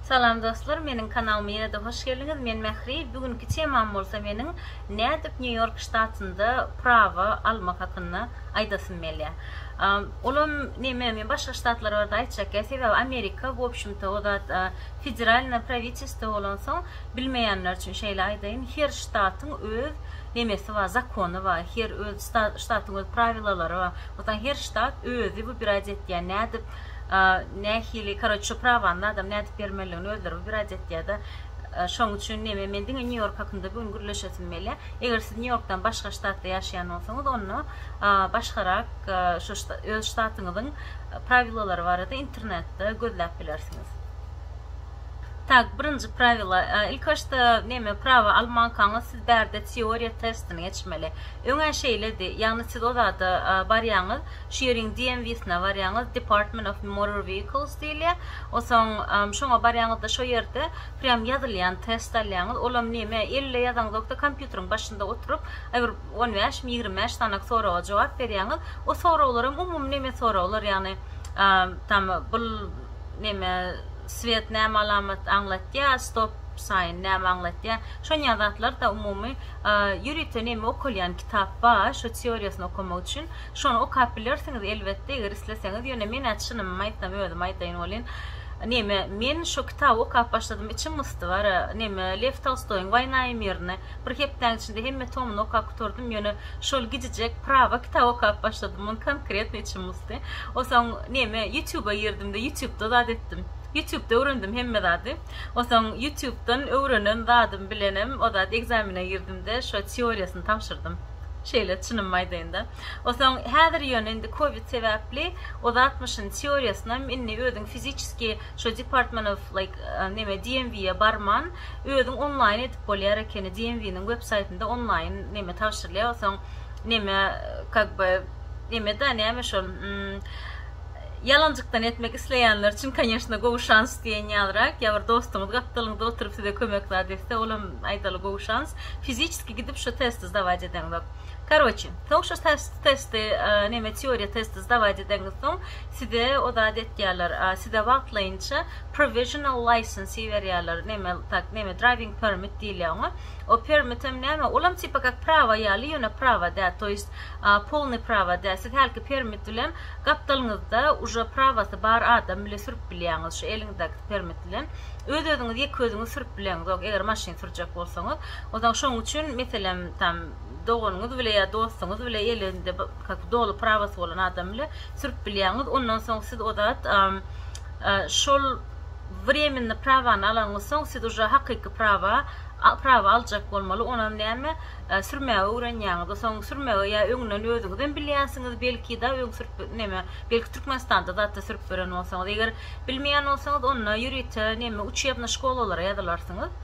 Salam dostlar meniň kanalyma ýene-de hoş geldiňiz men Mähri bu günki temam bolsa meniň nädip New York ştatynda prawa almak hakynda aýdasym gelýä olam näme men başga ştatlar barada aýtjak ýa sebäbi Amerika bu obşimto o zat federalna prawiçesto bolansoň bilmeýänler üçin şeýle aýdaýyn her ştatyň öz nemesi bar, zakony bar, her öz ştatyň öz prawilalary bar, watan her ştat özi wybirad etýär nädip nähili karoç şu prawany adam nädip bermelidigini özleri wybirad etýärda şoň üçin neme men diňe nýu ýork hakynda bu gün gürleşesim belýär eger siz nýu ýorkdan başga ştatda ýaşaýan bolsaňyz onda başgarak şu öz ştatyňyzyň prawilalary barada internetde gözläp bilersiňiz. Tak birinji prawila ilk başda neme prawa almankaňyz siz bärde teoriýa testini geçmeli öňe şeýledi ýagny siz o zada barýaňyz şu ýeriň DMV syna barýaňyz Department of Motor Vehicles diýilýä osoň şoňa barýaňyzda şo ýerde prýam ýazylýan test alýaňyz olam neme elle ýazaňzokda kompýuteriň başynda oturyp bir on bäş mi ýigrimi bäş sanak soraga jogap berýaňyz o soraglaram umumy neme soraglar ýagny tam bul neme swiet näme alamat aňlatýa stop saýn näme aňlatýa şonýa zatlar da umumy ýörite neme okalýan kitap ba şo teoriýasyny okamak üçin şony okap bilersiňiz elbetde eger isleseňiz ýöne menä çynymymy aýtsam özüm aýdaýyn welin neme men şo kitaby okap başladym içim gysdy bara neme lew tolstoýyň waýna i mirni Bir hepdäň içinde hemme tomyny okap gutardym, ýöne şol gijijek prawa kitap okap başladym, ony konkretno içim gysdy. Onsoň neme, ýutýuba girdim-de, ýutýubda zat etdim. Ýutýubda öwrendim hemme zady. Onsoň ýutýubdan öwrenen zadym bilenem o zat ekzamene girdim-de, şo teoriýasyny tabşyrdym. Şeýle, çynymy aýdaýyn-da. Onsoň häzir ýöne indi covid sebäpli o zatmyşyn teoriýasynam indi özüň fiziçeski Şu department of like neme DMV ýa barman özüň onlaýyn edip bolýar ekeni DMV nyň web saýtynda onlaýyn neme tabşyrylýar soň neme kak by neme da näme şol ýalanjykdan etmek isleýänler üçin konýeşna gowy şans diýen ýalyrak ýa bir dostuňyz gapdalyňda oturyp size kömek zat etse olam aýdaly gowy şans fiziçeski gidip şu testi zdawaç edeňzok. Karoçi, soň şu testi, neme teoriýa testi zdawaýt edeňiz soň, size o zady etýärler, size wagtlaýynça provisional license berýärler, neme, tak, neme, driving permit diýilýär oňa. O permitem näme, olam tipa kak prawa ýaly, ýöne prawa däl, to ýest, polny prawa däl, siz hälki permit bilen gapdalňyzda uje prawasy bar adam bile sürüp bilýäňiz, şu eliňizdäki permit bilen, öz-özüňiz ýeke-özüňiz sürüp bileňizok, eger maşyn sürjek bolsaňyz. Onsoň şoň üçin, meselem, tam, doganyňyz bile ýa dostuňyz bile, elinde kak, doly prawosy bolan adam bile sürüp bilýäňiz. Ondan soň siz o zat, a, a, şol wremennyý prawany alanyňyz soň, siz uje hakyky prawa, a, prawa aljak bolmaly. Onam näme, a, sürmäge öwrenýäňiz. Onsoň sürmegi ýa öňünden özüňizem bilýänsiňiz, belki-de, öň sürüp, neme, belki Türkmenistanda zat-da sürüp gören bolsaňyz. Eger bilmeýän bolsaňyz, onda ýörite, neme, uçýebnyý şkolalara ýazylarsyňyz.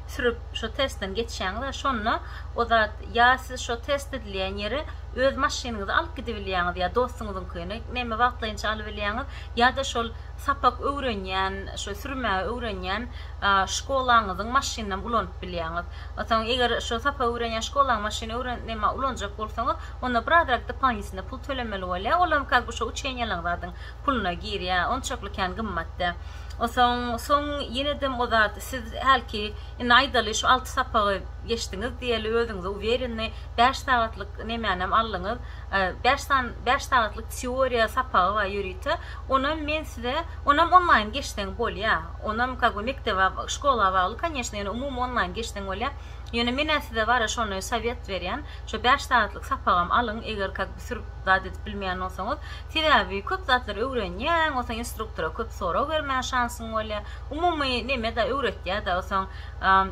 sürüp şo testden geçýäňizä şonda o zat ýa siz şo test edilýän ýere öz maşynyňyzy alyp gidibilýäňiz ýa dostuňyzyňkyny näme wagtlaýynça alybilýäňiz ýa-da şol sapak öwrenýän şo sürmäge öwrenýän şkolaňyzyň maşynynam ulanyp bilýäňiz. Soň eger şo sapak öwrenýän şkolaň maşyny öwren näme ulanjak bolsaňyz onda birazrak dopalnitinda pul tölemeli bolýar olam kak bi şo uçeniýalaň zadyň puluna girýä onçakly kän gymmat dä osoň soň ýenedem o zat siz hälki indi aýdaly şu alty sapagy geçdiňiz diýeli özüňize uwereni bäş sagatlyk nemänem aldyňyz bäş san bäş sagatlyk teoriýa sapagy bar ýörite onam men size onam onlaýn geçseň bolýa onam kak we mekdebe şkola bagly konýeşne ýöne umumy onlaýn geçseň bolýa ýöne menä size bara şony sowet berýän şo bäş sagatlyk sapagam alyň eger kak bir sürüp zat edip bilmeýän bolsaňyz Sebäbi köp zatlary öwrenýäň, onsoň instruktora köp sorag bermäge şansyň bolýar. Umumy neme-de öwretýär-de, onsoň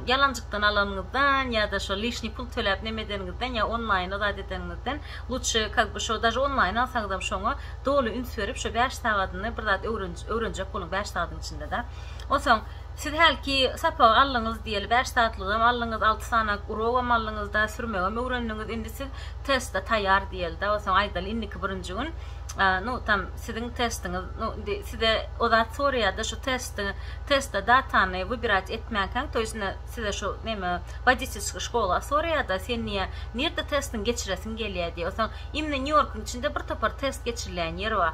ýalanjykdan alanyňyzdan ýa-da şo lişniý pul töläp neme edeniňizden ýa onlaýna zat edeniňizden lutşy kak bi şo daže onlaýn alsaňyzam şoňa doly üns berip şo bäş sagadyny bir zat öwrenjek boluň bäş sagadyň içinde-de. Onsoň. Siz hälki sapagy aldyňyz diýeli bäş saatlygam aldyňyz, alty sany urogam aldyňyzda, sürmegem öwrendiňiz, indi siz teste taýýar diýelida, onsoň aýdaly indiki birinji gün nu tam siziň testiňiz, nu indi size o zat soraýada şu testi, teste datany wybirać etmänkäň to ýesne size şu neme wodiçelskiý şkola soraýada sen niýe nirde testiňi geçiresiň gelýä diýe, onsoň imni Nýu Ýorkyň içinde bir topar test geçiriläýen ýer bar,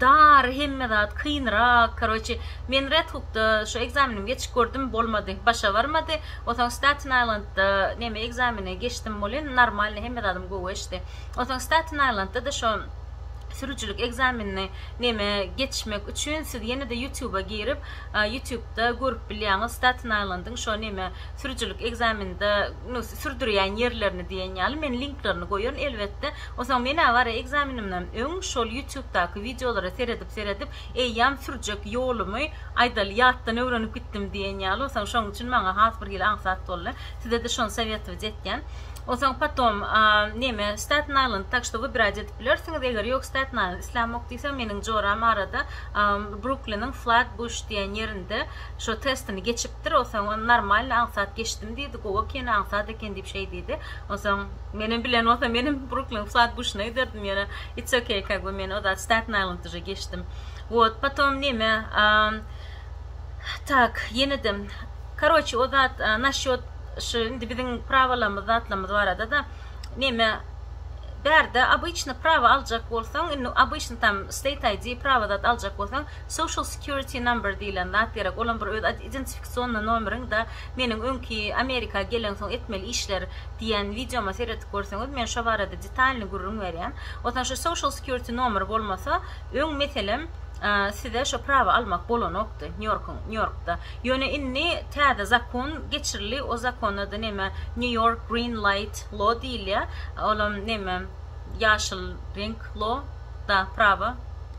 Dar hemme zat kynrak karoçi men red hukda şu ekzamenimi geçip gördüm bolmady başa barmady osaň staten aýlandda neme ekzameni geçdim bolin normalny hemme zadym gowy geçdi osaň staten aýlandda da şo sürüjilik ekzamenini neme geçmek üçin siz ýenede ýutuba girip ýutubda görüp bilýäňiz staten aýlandyň şo neme sürüjilik ekzameninde nu sürdürýän ýerlerini diýen ýaly men linklerini goýaryn elbetde Onsoň men-ä bara ekzamenimden öň şol ýutýubdaky wideolara seredip-seredip, eýýäm sürjek ýolumy, aýdaly, ýatdan öwrenip gitdim diýen ýaly, onsoň şonuň üçin maňa has birhili aňsat boldy. Size-de şony sowetowat etýän. Onsoň potom, neme, Staten Aýlend, tak ştoby bir aýda edip bilersiňiz, eger ýok, Staten Aýlend islämok diýseň, meniň joram arada Brukliniň Flatbush diýen ýerinde şo testini geçipdir, onsoň normalny, aňsat geçdim diýdi, gowy eken, aňsat eken diýip şeý diýdi. Onsoň. Menem bilen bolsa menem Bruklyn wsad gushuna giderdim ýöne it's okay kag by men ozat Staten Island duje geçdim wot potom neme aaa tak ýenedem karoçi ozat naşýot shu indi biziň prawalarymyz zatlarymyz barada da neme bärde obyçny prawa aljak bolsaň indi obyçny tam state ID prawa zat aljak bolsaň social security number diýilen zat gerek olam bir öz identifikasionnay nomeriň da Meniň öňki Amerika gelensoň etmeli işler diýen wideoma seredip görseňiz men şo barada detalny gürrüň berýän. Otan şu social security nomer bolmasa öň meselem size şo prawa almak bolanokdy Nýorkyň Nýorkda. Ýöne indi täze zakon geçirildi o zakon ady neme New York green light law diýilýä olam neme ýaşyl reňk law da prawa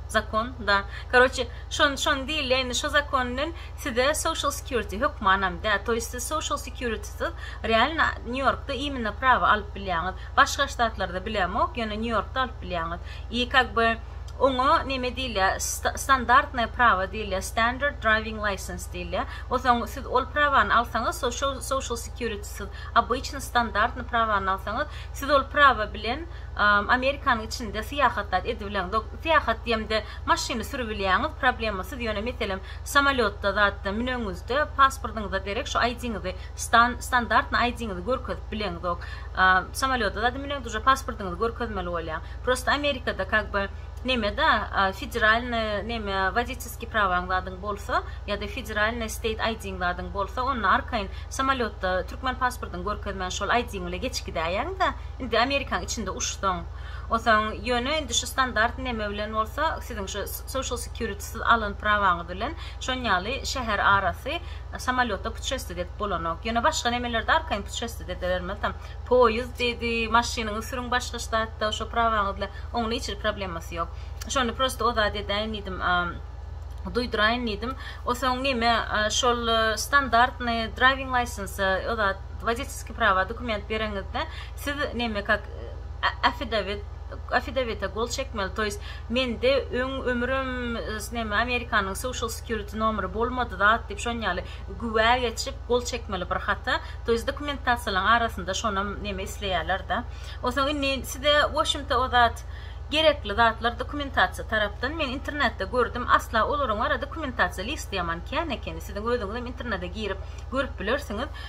zakon da karoçe şon şon diýilýä indi şo zakon bilen Size social security hökmanam däl, to ýest siz social security syz realno New Yorkda immino prawa alyp bilýäňiz, başga ştatlarda bilemok, ýöne New Yorkda alyp bilýäňiz i kak by oňa neme diýilýär standartnoe prawa diýilýär standard driving license diýilýär osaň siz ol prawany alsaňyz social social security syz obyçny standartny prawany alsaňyz siz ol prawa bilen Amerikanyň içinde syýahatdat edibileňiz ok syýahat diýemde maşyny süribilýäňiz problemasyz ýöne meselem Samolýotda zatda müneňizde pasportyňyza derek şu ID-ňizi stan standartny ID-ňizi görkezip bileňzok. Samolýotda zada müneňde uje pasportyňyzy görkezmeli bolýaň. Prosta Amerikada kak by nemede federalny neme wodiçeskiý prawaň zadyň bolsa ýada federalny state ID-ň zadyň bolsa onda arkaýyn samolýotda türkmen pasportyňy görkezmän şol ID-ň bile geçip gidäýeňda indi Amerikaň içinde uçsaň. Osaň ýöne indi şu standartny neme bilen bolsa siziň şu social security Siz alan prawaňyz bilen şonýaly şäher arasy samolýotda putşestit edip bolanok. Ýöne başga nemelerde arkaýyn putşestit edilermez tam. Poýizd diýdi, maşynyňy sürüň başga ştatda şo prawaňyz bilen. Onuň hiç hili problemasy ýok. Şony prosta ozat edäýin diýdim, duýduraýyn diýdim. Osoň neme, şol standartnyý draiwing laýsensa ozat, woditelskiý prawa dokument bereňizde, siz neme kak affidawit, Affidavite gol çekmeli toys mende öň ömrüm neme amerikanyň social security nomeri bolmady zat diyip şon yaly güwä geçip gol çekmeli bir hata toys dokumentasiýalaň arasynda şonam neme isleyaler da onsoň indi size wobşemta o zat gerekli zatlar dokumentasiýa tarapdan men internetde gördüm asla olaryň ara dokumentasiýa listi yaman kän ekeni siziň özüňizem internede girip görüp bilersiňiz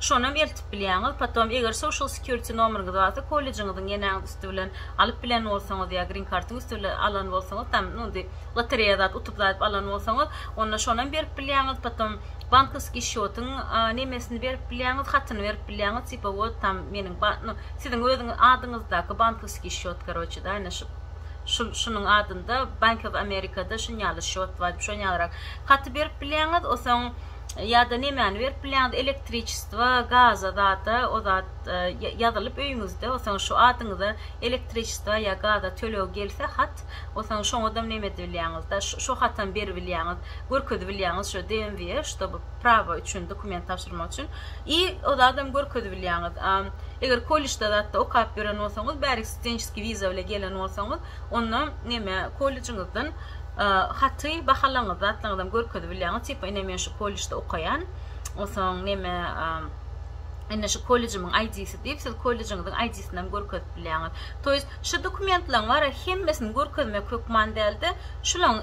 Şonam eltip bilýäňiz. Potom eger social security nomeriňiz barsa, kollejiňiziň ýenäňiz üsti bilen alyp bilen bolsaňyz ýa green kartyň üsti bilen alan bolsaňyz, tam nu indi lotereýa zat utup zaýyp alan bolsaňyz, onda şonam berip bilýäňiz. Potom bankowskiý şýotyň nemesini berip bilýäňiz, hatyny berip bilýäňiz, tipa wot tam meniň ba nu siziň özüňiz adyňyzdaky bankowskiý şýot karoçe da ine şup şul şunuň adynda Bank of America-da şunýaly şýot bar diýip şonýalyrak haty berip bilýäňiz. Osoň ýa-da nemäni berip bilýäňiz, elektriçestvo, gaza zada, o zat ýazylyp öýüňizde, onsoň şu adyňyza elektriçestvo ýa gaza tölegi gelse hat, onsoň şoňadam neme edibilýäňiz-de, şo hatam beribilýäňiz, görkezibilýäňiz şo DMV-e, ştoby prawa üçin dokument tabşyrmak üçin i o zadam görkezibilýäňiz. Eger kolležde zatda okap ýören bolsaňyz, bärik studentskiý wiza bile gelen bolsaňyz, Onda neme kollejiňizden haty bahalaňyzy zatlaňyzam görkezip bilýäňiz tipa ine men şu kollejde okaýan soň neme ine şu kollejimiň aýdisi diýip siz kollejiňiziň aýdisini hem görkezip bilýäňiz to ýest şu dokumentlaň bara hemmesini görkezmek hökman dälde şulaň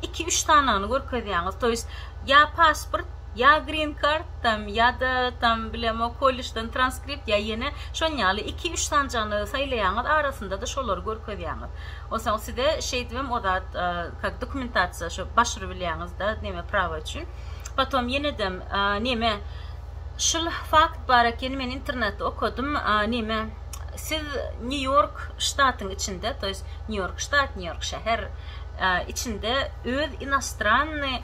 iki üç sanagyny görkezýäňiz to ýest ýa pasport Ýa green card tam ýada tam bilemo kollejden transkript ýa ýene şon ýaly iki üç sanjygyny saýlaýaňyz arasyndada şolary görkezýäňiz onsoň size şeýdibem ozat kak dokumentasiýa şo başury bilýäňizda neme prawa üçin potom ýenedem neme şul fakt bar eken men internetde okadym neme siz nýu ýork ştatyň içinde to ýes nýu ýork ştat nýu ýork şäher içinde öz inostranny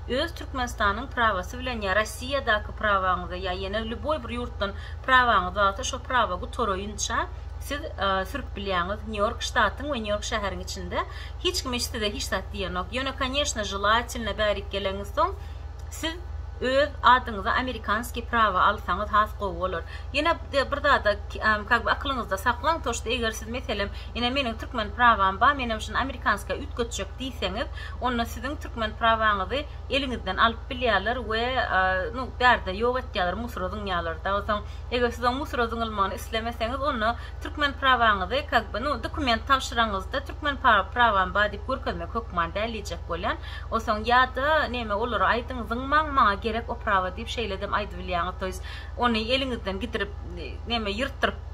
Öz Türkmenistanyň prawasy bilen ýa Rossiýadaky prawaňyza ýa ýene lýuboý bir ýurtdan prawaňyz barsa şo prawa gutaraýynça siz sürüp bilýäňiz Nýu-Ýork ştatyň we Nýu-Ýork şäheriň içinde hiç kim hiç size hiç zat diýenok ýöne koneşne želatelne bärik geleňiz soň siz öz adyňyza amerikanskiý prawa alsaňyz has gowy bolar ýene de bir zada kak bi akylyňyzda saklaň to şt eger siz meselem ine meniň türkmen prawam ba menem şuny amerikanskiýa üýtgetjek diýseňiz onda siziň türkmen prawaňyzy eliňizden alyp bilýärler we nu bärde ýok etýärler musura zyňýarlar dagy soň eger siz o musura zyňylmagyny islemeseňiz onda türkmen prawaňyzy kag by nu dokument tabşyraňyzda türkmen prawam bar diýip görkezmek hökman däl diýjek bolýan o soň ýada neme olara aýdyň zyňmaň maňa gerek o prawa diýip şeýledem aýdybilýäňiz toýs ony eliňizden gidirip neme ýyrtdyryp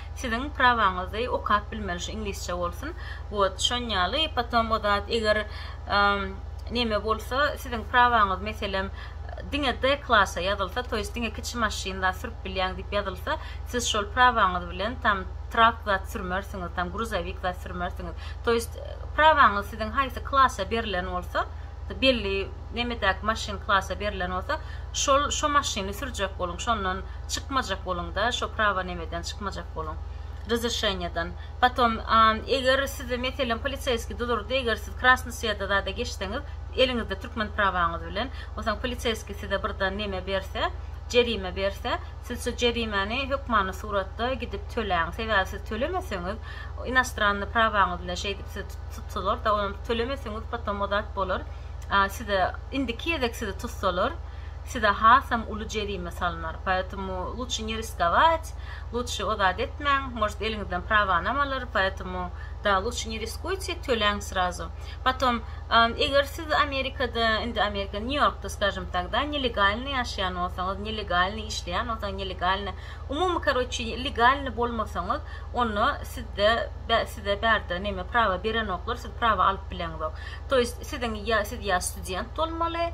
Siziň prawaňyzdy okap bilmeli şu iňlisçe bolsun wot şonýaly potom o zat eger neme bolsa siziň prawaňyz meselem diňe D klasa ýazylsa to ýest diňe kiçi maşyn zat sürüp bilýäň diýip ýazylsa siz şol prawaňyz bilen tam trak zat sürmersiňiz tam gruzowik zat sürmersiňiz to ýest prawaňyz siziň haýsy klasa berlen bolsa belli nemedäki maşyn klasa berlen bolsa şol şo maşyny sürjek boluň şondan Çykmajak boluň da şo prawa nemeden çykmajak boluň rezrişenýadan potom eger sizi meselem poliseýski dudurdy eger siz krasny sweda zada geçseňiz eliňizde türkmen prawaňyz bilen osaň poliseýski size birdan neme berse jerime berse siz şo jerimäni hökmany suratda gidip töläň sebäbi siz tölemeseňiz inastranny prawaňyz bilen şeýdip sizi tutsalar da onam tölemeseňiz potom ozat bolar size indiki gezek sizi tutsalar size hasam uly jerime salnar, poetomu luçşe ne riskovać, luçşe o zady etmäň, может eliňizden prawanam alar, poetomu da luçşe ne riskujte, töläň srazu. Potom eger siz amerikada indi amerika nýu ýorkda skažem tagda nelegalny ýaşaýan bolsaňyz, nelegalny işleýän bolsaňyz, nelegalny umumy karoçi legalny bolmasaňyz onda sizde size bärde neme prawa berenoklar siz prawa alyp bileňzok. To ýest siziň ýa siz ýa student bolmaly,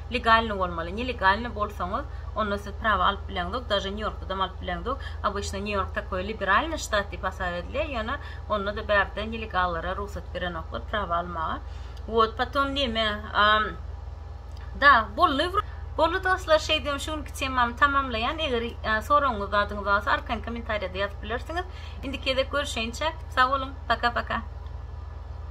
Legalny bolmaly, nelegalny bolsaňyz onda siz prawa alyp bileňzok, daže Nýu Ýorkdadam alyp bileňzok, obyçno Nýu Ýork takoý liberalny ştat diýip hasap edilýär, ýöne ondada bärde nelegallara rugsat berenoklar prawa almaga. Wot potom neme Da bolly wr. Bolly dostlar şeý diýen şu günki temamy tamamlaýan eger soragyňyz zadyňyz barsa arkaýyn komentariýada ýazyp bilersiňiz. Indiki gezek görüşeýinçäk sag boluň paka paka.